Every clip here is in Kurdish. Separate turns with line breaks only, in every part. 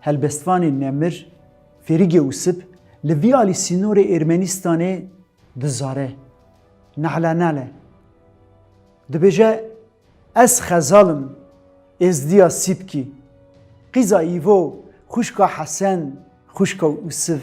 Helbestvanê Nemir, Fêrigê Usip li vî alî sînorê Êrmenistanê di zare. Nale nale. Dibêje ez xezal im, êzdiya Sîpkî. Qîza Îvo, xwişka Hesen, xwişka Usiv.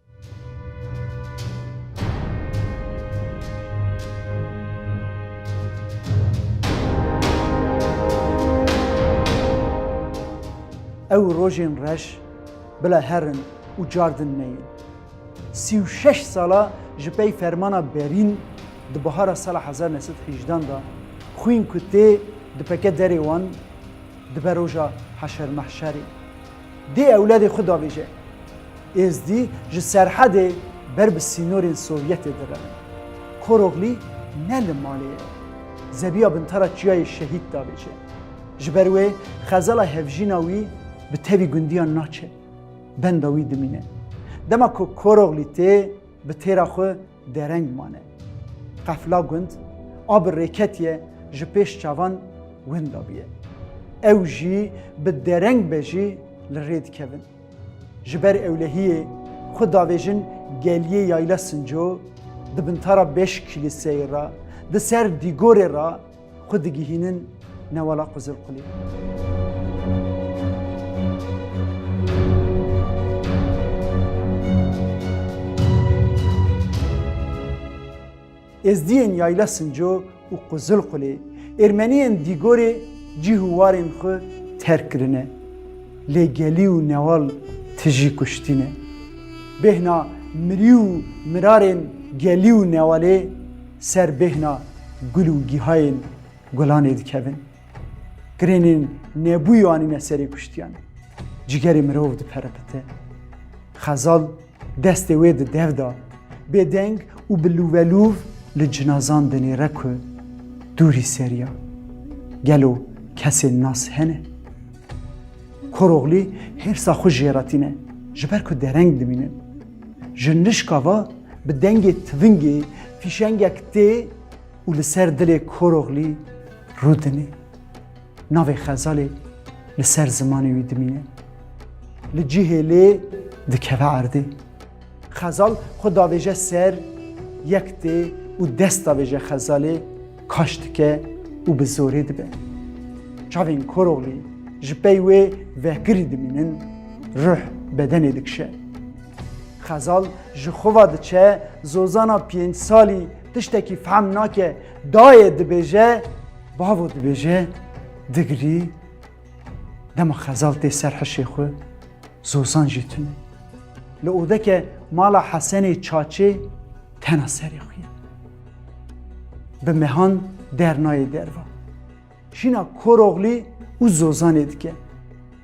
Ew rojên reş bila her in û cardin me yên. Sî û şeş sala ji pey fermana Berîn di bihara sala hezar neh sed hîjdan de xwîn ku tê dipeke derê wan dibe roja heşermehşerê. Dê ewladê xwe dabêje, Êzdî ji serhedê ber bi sînorên Sovyetê direvin. Koroglî ne li malê ye. Zebiya bintara Çiyayê Şehîd dabêje. Ji ber wê xezala hevjîna wî bi tevî gundiyan naçe. Benda wî dimîne. Dema ku Koroglî tê bi têra xwe Dereng mane. Qefla gund a bi rêketiye ji pêş çavan winda bûye. Ew jî bi dereng be jî li rê dikevin. Ji ber ewlehiyê xwe davêjin geliyê Yayla Sinco di bintara beş kîlîseyê re di ser dîgorê re xwe digihînin newala Qizilqulê. Êzdiyên Yayla Sinco û Qizilqulê Ermeniyên Dîgorê cîh û warên xwe terk kirine. Lê gelî û newal tijî kuştîne. Bêhna mirî û mirarên gelî û newalê. ser bêhna gul û gîhayên gulanê dikevin. Girênên nebûyî anîne serê kuştiyan. Cîgerê mirov diperipite. Xezal destê wê di dev da. Bêdeng û bi lûvelûv li cinazan dinêre ku dûrî seriya. Gelo kesên nas hene? Koroglî hêrsa xwe jêretîne ji ber ku dereng dimînin. Ji nişka ve bi dengê tivingê fîşengek tê û li ser dilê Koroglî rûdine. Navê Xezalê li ser zimanê wî dimîne. Li cihê lê dikeve erdê. Xezal xwe davêje ser yek tê û dest davêje Xezalê. Kaş dike û bi zorê dibe. Çavên Koroglî ji pey wê vekirî dimînin, ruh bedenê dikişe. Xezal ji xwe ve diçe, zozana pênc salî tiştekî fehm nake, dayê dibêje, bavo dibêje, digirî, dema Xezal tê ser hişê xwe, zozan jî tune. Li odeke mala Hesenê Çaçê Tena serê xwe ye. Bi mehan dernayê derva. Jîna Koroglî û Zozanê dike.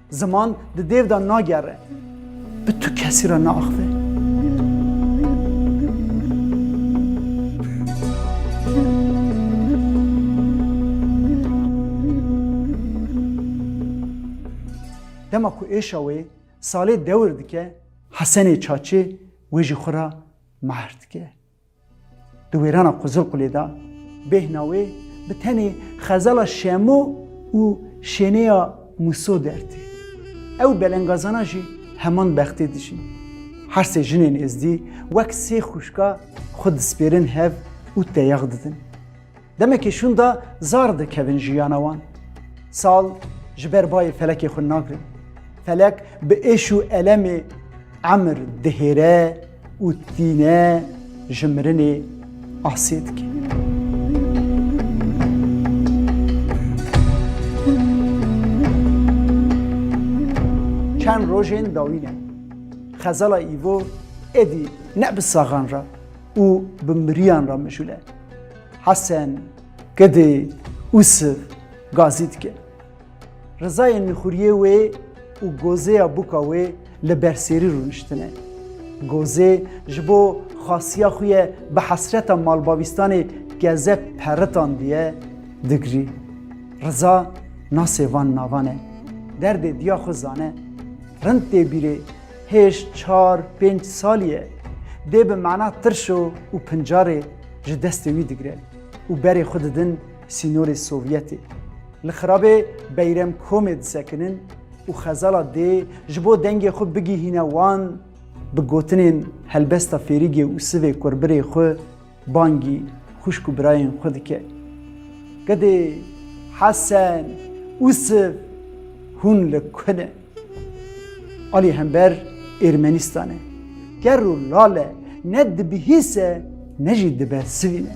Ziman di dêv de nagere. Bi tu kesî re naaxive. Dema ku êşa wê salê dewir dike, Hesenê Çaçê wê ji xwe re Mahr dike. Di wêrana Qizilqulê de bêhna wê bi tenê xezala Şemo û şênêya Muso dertê. Ew û belengazana jî heman bextê dijîn. Her sê jinên êzdî wek sê xwişka xwe dispêrin hev û teyax didin. Demekî şûnda zar dikevin jiyana wan. Sal ji ber bayê felekê xwe nagirin. Felek bi êş û elemê emir dihêre û tîne ji mirinê asê dike. Çend rojên dawî ne. Xezala îvo êdî ne bi saxan re û bi miriyan re mijûl e. Hesen, Kedê, Usif gazî dike. Rizayên mîxuriyê wê û gozêya bûka wê li ber sêrî rûniştine. Gozê ji bo xasiya xwe ye bi hesreta malbavîstanê keze peritandiye digirî. Riza nasê van navan e. Derdê diya xwe zane. Rind tê bîrê hêj çar pênc salî ye. Dê bi mana tirş o û pincarê ji destê wî digirin û berê xwe didin sînorê Sovyetê. Li xirabê Beyrem Komê disekinin û xezala dê ji bo dengê xwe bigihîne wan bi gotinên helbesta fêrîgê û sivê kurbirê xwe bangî xwişk û birayên xwe dike. Gedê Hesen û siv hûn li ku ne? Alî hember Ermenîstanê ker û lale ne dibihîse ne jî dibersivîne.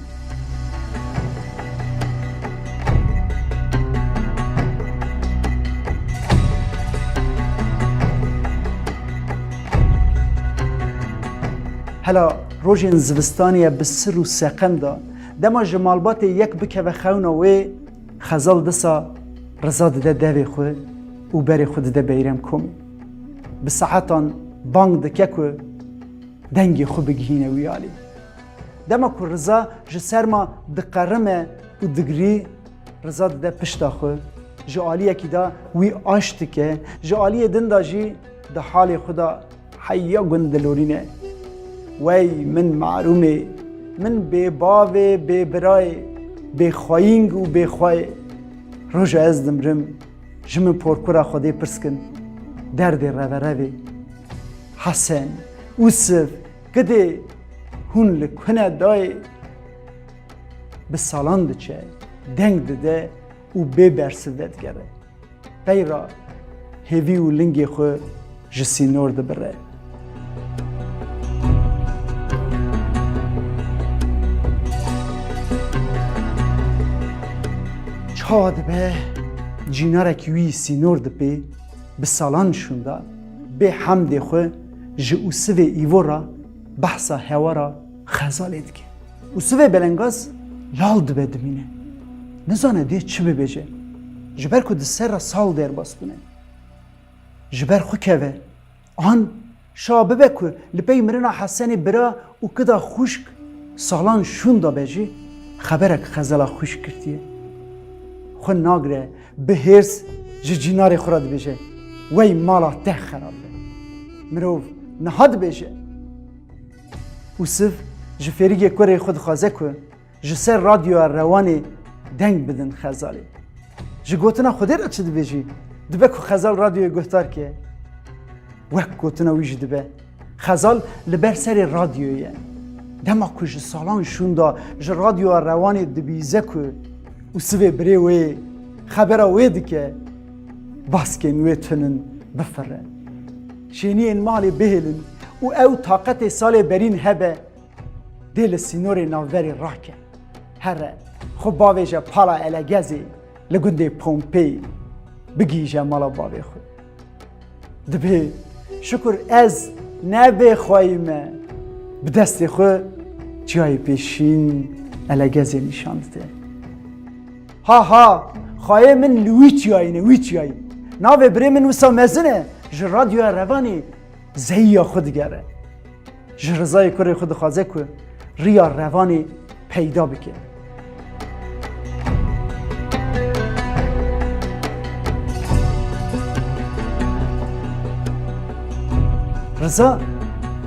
Hela rojên zivistanê ye bi sir û seqem de dema ji malbatê yek bikeve xewna wê, Xezal disa riza dide devê xwe û berê xwe dide Beyrem Komî. Bi saetan bang dike ku dengê xwe bigihîne wî alî. Dema ku riza ji serma diqerime û digirî riza dide pişta xwe, ji aliyekî de wî aş dike, ji aliyê din de jî di halê xwe de Hey ya gund dilorîne wey min marûmê min bê bavê bê birayê bê xweyîng û bê xweyê roja ez dimrim ji min porkura xwedê pirskin derdê reverevê Hesen usif gidê hûn li kune dayê bi salan diçe deng dide û bê bersiv vedigere. Qey ra hêvî û lingê xwe ji sînor dibire. Çawa dibe cînarekî wî sînor dipê bi salan şûnda bê hemdê xwe ji ûsivê îvo ra behsa hewara xezalê dike. û sivê belengaz lal dibe dimîne. Nizane dê çi bibêje. Ji ber ku di ser re sal derbas bûne. Ji ber xwe keve. An şa bibe ku li pey mirina Hesenê bira û kida xwişk salan şûn da be jî xeberek xezela xwişk girtiye. Xwe nagire bi hêrs ji cînarê xwe re dibêje wey mala te xerab be. Mirov niha dibêje. Usif ji fêrigê kurê xwe dixwaze ku ji ser radyoya Rewanê deng bidin Xezalê. Ji gotina Xwedê re çi dibe jî, dibe ku Xezal radyoyê guhdar ke. Wek gotina wî jî dibe, Xezal li ber serê radyoyê ye. Dema ku ji salan şûnda ji radyoya Rewanê dibîze ku Usifê birê wê xebera wê dike, baskên wê tunin bifire. Şêniyên malê bihêlin û ew taqetê salê berîn hebe, dê li sînorê navberê rake. Here, xwe bavêje pala Elegezê li gundê Pompey, bigihîje mala bavê xwe. Dibê şikur ez ne bê xweyî me. Bi destê xwe çiyayê pê şîn Elegezê nîşan dide. Ha ha! Xayê min li wî çiyayîne, wî çiyayîn. Navê birê min wisa mezin e, ji radyoya revanê zeyiya xwe digere. Ji rizayê kurê xwe dixwaze ku riya revanê peyda bike. Riza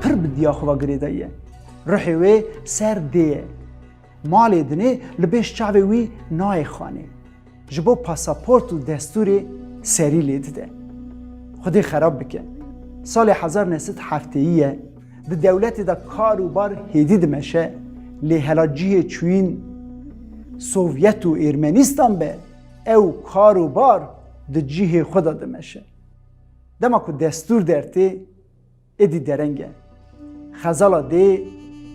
pir bi diya xwe girêdayiye. Ruhê wê ser dê ye. Malê dinê li bêş çavê wî nayê xanê. Ji bo pasaport û destûrê serî lê dide. Xwedê xerab bike. Salê hezar ne sed hefteyî ye di dewletê de kar û bar hêdî dimeşe lê hela cihê çûyîn Sovyet û Êrmenîstan be ew kar û bar di cihê xwe de dimeşe. Dema ku destûr dertê, Êdî dereng e. Xezala dê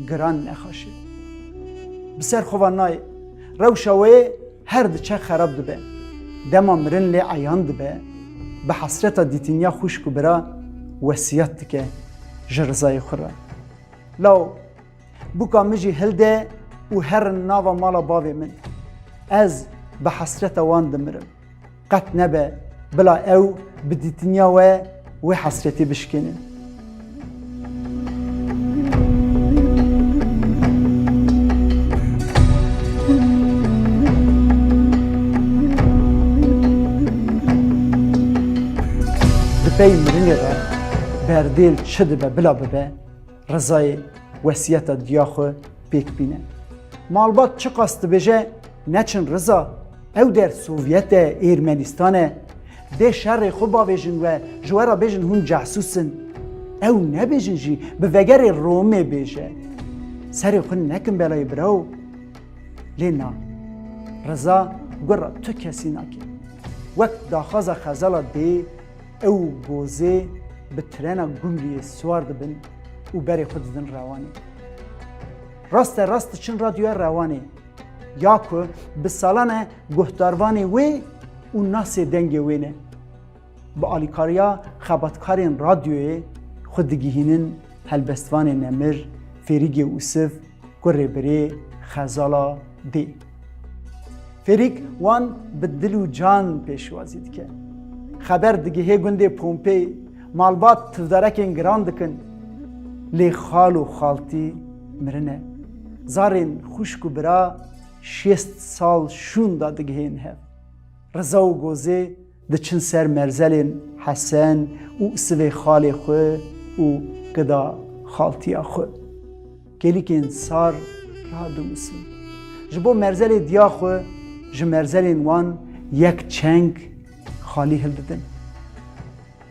giran nexaşe. Bi ser xwe ve nayê. Rewşa wê her diçe xerab dibe. Dema mirin lê eyan dibe, bi hesreta dîtiniya xwişk û bira wesiyat dike ji rizayê xwe re. Law Buka min jî hilde û herin nava mala bavê min. Ez bi hesreta wan dimirim. Qet nebe bila ew bi dîtiniya we wê hesretê bişkênin. Di pey mirinê re berdêl çi dibe bila bibe. Rezayê wesiyeta diya xwe pêk bîne. Malbat çiqas dibêje neçin Reza, ew der Sovyet e, Êrmenistan e. Dê şerê xwe bavêjin we ji we re bêjin hûn cahsûs in. Ew nebêjin jî bi vegerê Romê bêje. Serê xwe nekin belayê biraw. Lê na. Reza gura tu kesî nake. Wek daxwaza xezala dê Ew gozê bi trena Gumriyê siwar dibin û berê xwe didin Rewanê. Raste rast diçin radyoya Rewanê ya ku bi salan e guhdarvanê wê û nasê dengê wê ne. Bi alîkariya xebatkarên radyoyê xwe digihînin helbestvanê Nemir, Fêrîgê Usif, Kurê birê xezala dê. Fêrîk wan bi dil û can pêşwazî dike. Xeber digihê gundê Pompey, malbat tivdarekên giran dikin. Lê xal û xaltî mirine. Zarên xwişk û bira şêst sal şûn da digihên hev. Riza û Gozê Diçin ser merzelên Hesen û sivê xalê xwe û qida xaltiya xwe. Kêlikên sar radinusin. Ji bo merzelê diya xwe ji merzelên wan yek çeng xalî hildidin.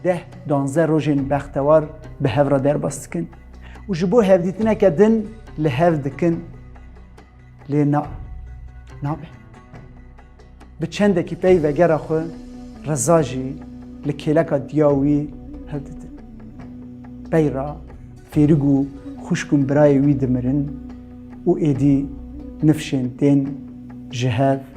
Deh danze rojên bextewar bi hev re derbas dikin û ji bo hevdîtineke din li hev dikin. Lê na, nabe. Bi çendekî pey vegera xwe Reza jî li kêleka diya wî hevditin. Pey ra Fêrig û xwişk û birayê wî dimirin û êdî nifşên tên ji hev